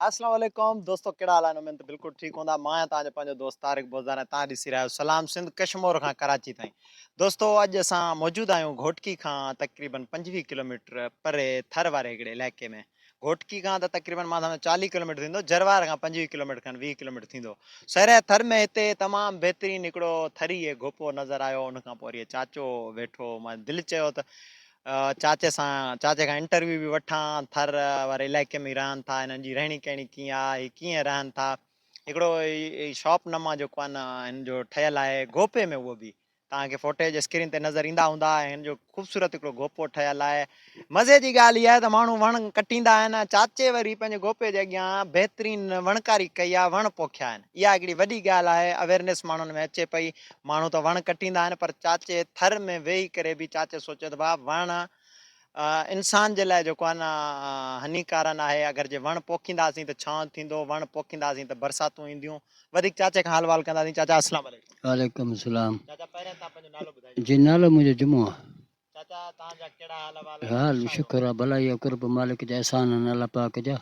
اسلام عليڪم دوستو ڪهڙا حال آهن امين ته بلڪل ٺيڪ هوندا مان آهيان توهان جو پنهنجو دوست طارق بوزدار ۽ توهان ڏسي رهيا آهيو سلام سنڌ ڪشمور کان ڪراچي تائين دوستو اڄ اسان موجود آهيون گهوٽڪي کان تقريبن پنجويهه ڪلوميٽر پري ٿر واري هڪڙي علائقي ۾ گهوٽڪي کان ته تقريبن مان سمجهان چاليهه ڪلوميٽر ٿيندو جروار کان پنجويهه ڪلوميٽر کن ويهه ڪلوميٽر ٿيندو سرحد ٿر ۾ هتي تمام بهترين هڪڙو ٿري گهوپو نظر آيو ان کان پوء وري چاچو ويٺو مان دل چيو ته چاچي سان چاچي کان انٽرويو به وٺان ٿر واري علائقي ۾ رهن ٿا هنن جي رهڻي ڪهڻي ڪيئن آ هي ڪيئن رهن ٿا هڪڙو شاپ نما جيڪو آ نه هن جو ٺهيل آهي گوپي ۾ اهو به توهان کي فوٽيج اسڪرين تي نظر ايندا هوندا هن جو خوبصورت هڪڙو گوپو ٺهيل آهي مزي جي ڳالهه اها آهي ته ماڻهو وڻ ڪٽيندا آهن چاچي وري پنهنجي گوپي جي اڳيان بهترين وڻڪاري ڪئي آ وڻ پوکيا آهن اها هڪڙي وڏي ڳالهه آهي اويرنيس ماڻهن ۾ اچي پئي ماڻهو ته وڻ ڪٽيندا آهن پر چاچي ٿر ۾ ويهي ڪري به چاچي سوچيو ته ڀاء وڻ انسان جي لاء جيڪو آهي نه هني ڪارن آهي اگر جي وڻ پوکينداسين ته ڇانو ٿيندو وڻ پوکينداسين ته برساتون اينديون وڌيڪ چاچي کان حال وال ڪنداسين چاچا اسلام عليڪم. وعليڪم اسلام چاچا پهرين تان پنهنجو نالو ٻڌائيجو. جي نالو منهنجو جمعو آهي. حال شڪر آ ڀلائي آ قرب مالڪ جا احسان آهن الله پاڪ جا.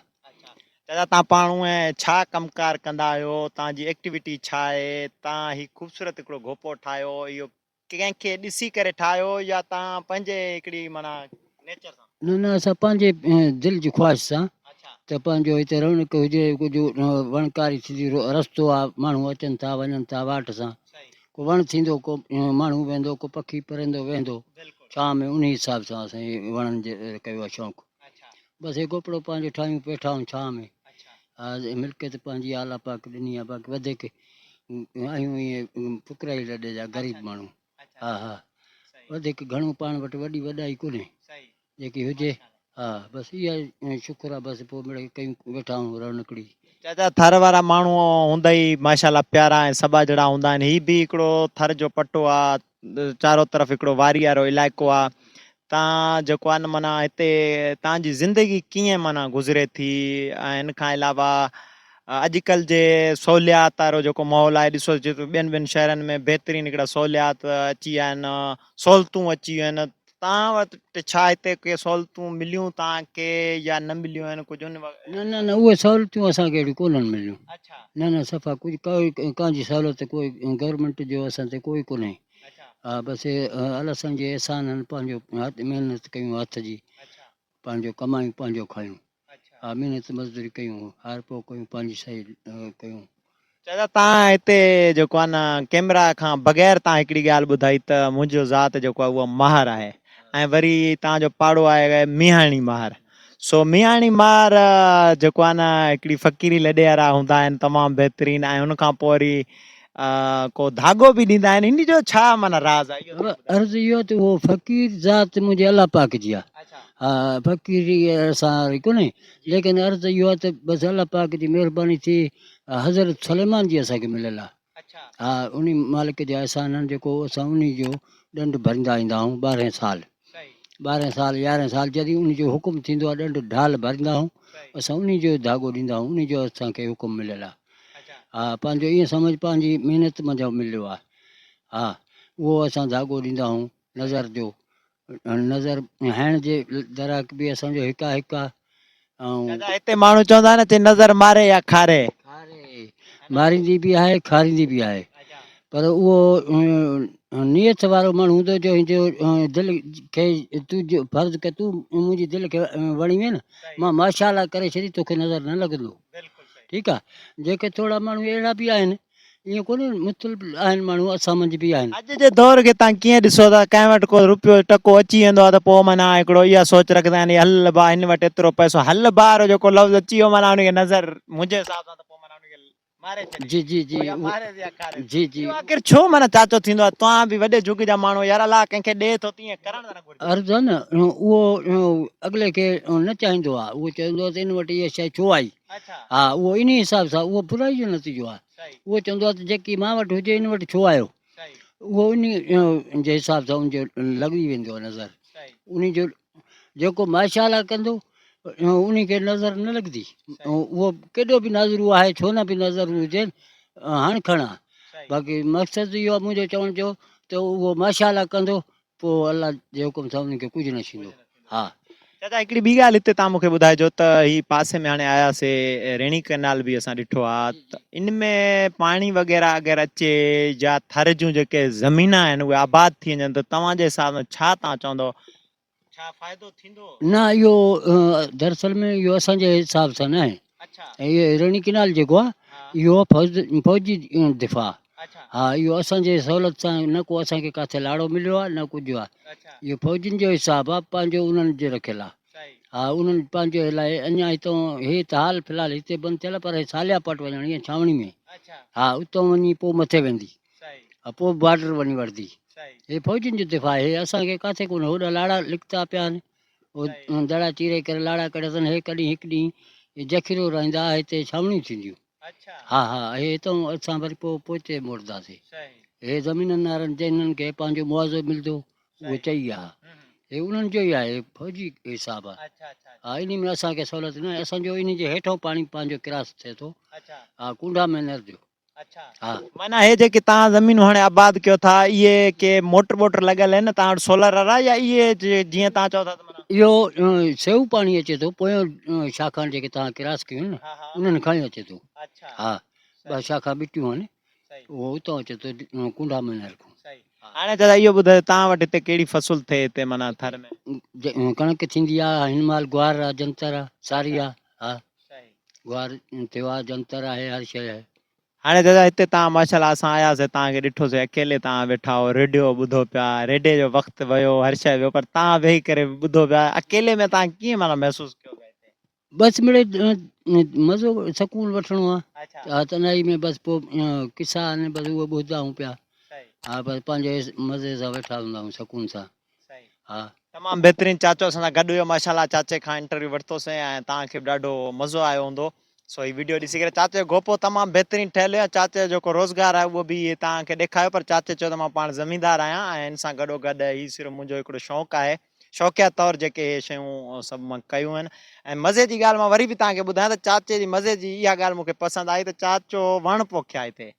چاچا تان پاڻ هونء ڇا ڪم ڪار ڪندا آهيو تان جي ايڪٽيوٽي ڇا آهي تان هي خوبصورت هڪڙو گهوپو ٺاهيو اهو ڪنهن کي ڏسي ڪري ٺاهيو يا تان پنهنجي هڪڙي معنيٰ نيچر سان. نه نه اسان پنهنجي دل جي خواهش سان ته پنهنجو هتي رونق هجي ڪجهه وڻڪاري ٿيندي رستو آ ماڻهو اچن ٿا وڃن ٿا واٽ سان ڪو وڻ ٿيندو، ڪو ماڻهو ويندو، ڪو پکي پرندو ويندو ڇانء ۾ انهي حساب سان اسان هي وڻن جو ڪيو آهي شوق. بس هي گوپڙو پنهنجو ٺاهيون پيٺائون ڇانء ۾ ها ملڪيت پنهنجي آء الله پاڪ ڏني آهي باقي وڌيڪ آهيون ائين فقرائي لڏي جا غريب ماڻهو ها ها وڌيڪ گهڻو پاڻ وٽ وڏي وڏائي ڪونهي جيڪي هجي ها بس اها شڪر آ بس پو مڙئي ڪيون ويٺا آهون رڻڪڙي. چاچا ٿر وارا ماڻهو هوندئي ماشاءالله پيارا ۽ سٻاجهڙا هوندا آهن هي به هڪڙو ٿر جو پٽو آ چارو طرف هڪڙو واري وارو علائقو آ تان جيڪو آ نه معنيٰ هتي تان جي زندگي ڪيئن معنيٰ گذري ٿي ۽ ان کان علاوه اڄڪلهه جي سهوليات وارو جيڪو ماحول آهي ڏسو جي ٻين ٻين شهرن ۾ بهترين هڪڙا سهوليات اچي ويا آهن سهولتون اچي ويون آهن توهان وٽ ڇا هتي ڪي سهولتون مليون توهان کي يا نه مليون آهن ڪجهه ان وقت؟ نه نه نه اهي سهولتون اسان کي اهڙيون ڪونهن مليون نه نه صفا ڪجهه ڪائي ڪان جي سهولت ڪوئي گورمينٽ جو اسان تي ڪوئي ڪونهي ها بس الله سائين جي احسانن پنهنجو محنت ڪيون هٿ جي پنهنجو ڪمايون پنهنجو کايون. آمين هت مزدوري ڪيون هار پو ڪيون پنهنجي سهي ڪيون. چاچا تان هتي جيڪو آ نه ڪيمرا کان بغير تان هڪڙي ڳالهه ٻڌائي ته منهنجو ذات جيڪو آ اهو ماهر آهي ۽ وري تان جو پاڙو آهي ميهاڻي ماهر سو ميهاڻي ماهر جيڪو آ نه هڪڙي فقيري لڏي وارا هوندا آهن تمام بهترين ۽ ان کان پو وري ڪو ڌاڳو به ڏيندا آهن ان جو ڇا معنيٰ راز آهي اهو عرض اهو ته هو فقير ذات منهنجي الله پاڪ جي آهي اچھا ها فقيري اسان واري ڪونهي ليڪن عرض اهو آهي ته بس الله پاڪ جي مهرباني ٿي حضرت سليمان جي اسان کي مليل آهي اچھا ها ان مالڪ جي احسانن جيڪو اسان انهي جو ڏنڊ ڀرندا ايندا آهيون ٻارهين سال ٻارهن سال، يارهن سال جڏهن ان جو حڪم ٿيندو آهي ڏنڊ ڍال ڀرندا آهيون اسان انهي جو ڌاڳو ڏيندا آهيون انهي جو اسان کي حڪم مليل آهي ها پنهنجو ايئن سمجهه پنهنجي محنت منجهان مليو آهي ها اهو اسان ڌاڳو ڏيندا آهيون نظر جو نظر هڻڻ جي دراڪ به اسان جو هڪ آهي هڪ آهي دادا هتي ماڻهو چوندا آهن چي نظر ماري يا کاري. کاري ماريندي به آهي کاريندي به آهي پر اهو نيت وارو ماڻهو هوندو جو هن جو دل کي تون جو فرض ڪر تون منهنجي دل کي وڻي وين مان ماشاء الله ڪري ڇڏي توکي نظر نه لڳندو ٺيڪ آهي جيڪي ٿورا ماڻهو اهڙا به آهن ائين ڪونهي مختلف آهن ماڻهو اسان منجهه به آهن. اڄ جي دور کي تان ڪيئن ڏسو ٿا ڪنهن وٽ ڪو روپيو ٽڪو اچي ويندو آهي ته پوء معنيٰ هڪڙو اها سوچ رکندا آهن هي هل با هن وٽ ايترو پئسو هل بار جيڪو لفظ اچي ويو معنيٰ ان کي نظر منهنجي حساب سان ته پوء معنيٰ ان کي ماري ڇڏي جي جي جي اهو ماريس يا کاريس جي جي اهو آخر ڇو معنيٰ چاچو ٿيندو آهي توهان به وڏي جڳ جا ماڻهو يار الله ڪنهن کي ڏي ٿو ته ائين ڪرڻ ته نه گهرجي. عرض آهي نه اهو اڳلي کي نه چاهيندو آهي اهو چوندو آهي ته ان وٽ اها شيء ڇو آئي. ها اهو انهي حساب سان اهو برائي جو نتيجو آهي اهو چوندو آهي ته جيڪي مان وٽ هجي ان وٽ ڇو آيو اهو انهي جي حساب سان ان جو لڳي ويندو آهي نظر انهي جو جيڪو ماشاءالله ڪندو انهي کي نظر نه لڳندي اهو ڪيڏو به نظرو آهي ڇو نه به نظر هجين هاڻ کڻا باقي مقصد اهو آهي منهنجو چوڻ جو ته اهو ماشاءالله ڪندو پوء الله جي حڪم سان انهن کي ڪجهه نه ڇيندو. ها! چاچا هڪڙي ٻي ڳالهه هتي تان مون کي ٻڌائجو ته هي پاسي ۾ هاڻي آيا سي ريڻي ڪئنال به اسان ڏٺو آ ته ان ۾ پاڻي وغيره اگر اچي جا ٿر جون جيڪي زمينان آهن اهي آباد ٿي وڃن ته توهان جي حساب سان ڇا تان چوندو ڇا فائدو ٿيندو؟ نه اهو دراصل ۾ اهو اسان جي حساب سان ناهي ۽ اهو هيروني ڪينال جيڪو آهي اهو آهي فوجي دفاع ها اهو اسان جي سهولت سان نه ڪو اسان کي ڪاٿي لاڙو مليو آهي نه ڪجهه آهي اهو فوجين جو حساب آهي پنهنجو انهن جو رکيل آهي ها انهن پنهنجو لاء اڃا هتون هي ته حال في الحال هتي بند ٿيل آهي پر هي ساليا پٽ وڃڻي آهي ڇانوڻي ۾ ها اتو وڃي پوء مٿي ويندي ها پوء بارڊر وڃي وڙهندي هي فوجين جو دفاع آهي اسان کي ڪاٿي ڪونه هوڏا لاڙا لڪتا پيا آهن دڙا چيري ڪري لاڙا ڪڙهي اٿن، هي ڪڏهن هڪ ڏينهن اهي جکرو رهندا ها هتي ڇانوڻيون ٿينديون ها ها اهي هتئون اسان وري پوء پوئتي موٽنداسين هي زمينن وارن جي انهن کي پنهنجو مواضعو ملندو اهو چئي ويا ها هي انهن جو ئي آهي فوجي حساب آهي ها انهي ۾ اسان کي سهولت ناهي اسان جو انهي جي هيٺئون پاڻي پنهنجو ڪراس ٿئي ٿو ها ڪونڊا مينر جو معنيٰ هي جيڪي توهان زمينون هاڻي آباد ڪيو ٿا اهي ڪي موٽر بوٽر لڳل آهن توهان وٽ سولر وارا يا اهي جيئن توهان چئو ٿا اهو سيو پاڻي اچي ٿو پويون شاخان جيڪي توهان ڪراس ڪيون نه انهن کان ئي اچي ٿو ها ٻه شاخا ٻٽيون آهن اهو اتان اچي ٿو ڪنڊا مينار کان هاڻي دادا اهو ٻڌايو توهان وٽ هتي ڪهڙي فصل ٿئي هتي معنيٰ ٿر ۾ ڪڻڪ ٿيندي آهي هن مهل گوار آهي جنتر آهي ساري آهي ها گوار تيوار جنتر آهي هر شيء. هاڻي دادا هتي تان ماشاء الله اسان آيا سي تان کي ڏٺو سي اڪيلي تان ويٺا هئو ريڊيو ٻڌو پيا ريڊي جو وقت ويو هر شيء ويو پر تان ويهي ڪري ٻڌو پيا اڪيلي ۾ تان ڪيئن معنيٰ محسوس ڪيو پيا هتي بس مڙي مزو سڪون وٺڻو آ اچھا ها تنهائي ۾ بس پو قصا آهن بس اهي ٻڌدا آهيون پيا صحيح ها بس پنهنجي مزي سان ويٺا هوندا آهيون سڪون سان تمام بهترين چاچو اسان سان گڏ هيو ماشاءالله چاچي کان انٽرويو ورتو سين ۽ توهان کي به ڏاڍو مزو آيو هوندو سو هي ويڊيو ڏسي ڪري چاچي جو گوپو تمام بهترين ٺهيل هيو چاچي جو جيڪو روزگار آهي اهو به توهان کي ڏيکايو پر چاچي چيو ته مان پاڻ زميندار آهيان ۽ ان سان گڏو گڏ هي صرف منهنجو هڪڙو شوق آهي شوقيا طور جيڪي هي شيون سڀ مان ڪيون آهن ۽ مزي جي ڳالهه مان وري به توهان کي ٻڌايان ته چاچي جي مزي جي اها ڳالهه مون کي پسند آئي ته چاچو وڻ پوکيائين ٿي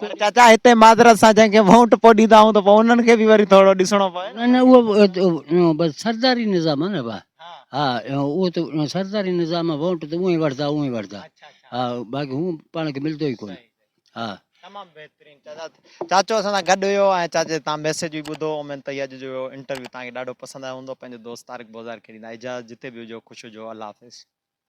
پر چاچا هتي معذرت سان جنهن کي وونٽ پوء ڏيندا آهيون ته پوء انهن کي به وري ٿورو ڏسڻو پوي نه. نه اهو بس سرداري نظام آهي نه با ها اهو ته سرداري نظام آهي وونٽ ته اونهي وردا اونهي وردا ها باقي هو پاڻ کي ملندو ئي ڪون ها. تمام بهترين چاچا چاچو اسان سان گڏ هيو ۽ چاچي تان ميسيج به ٻڌو اميد ته هي اڄ جو انٽرويو تان کي ڏاڍو پسند آيو هوندو پنهنجو دوست طارق بوزار کي ڏيندا اجازت جتي به هجو خوش هجو الله حافظ.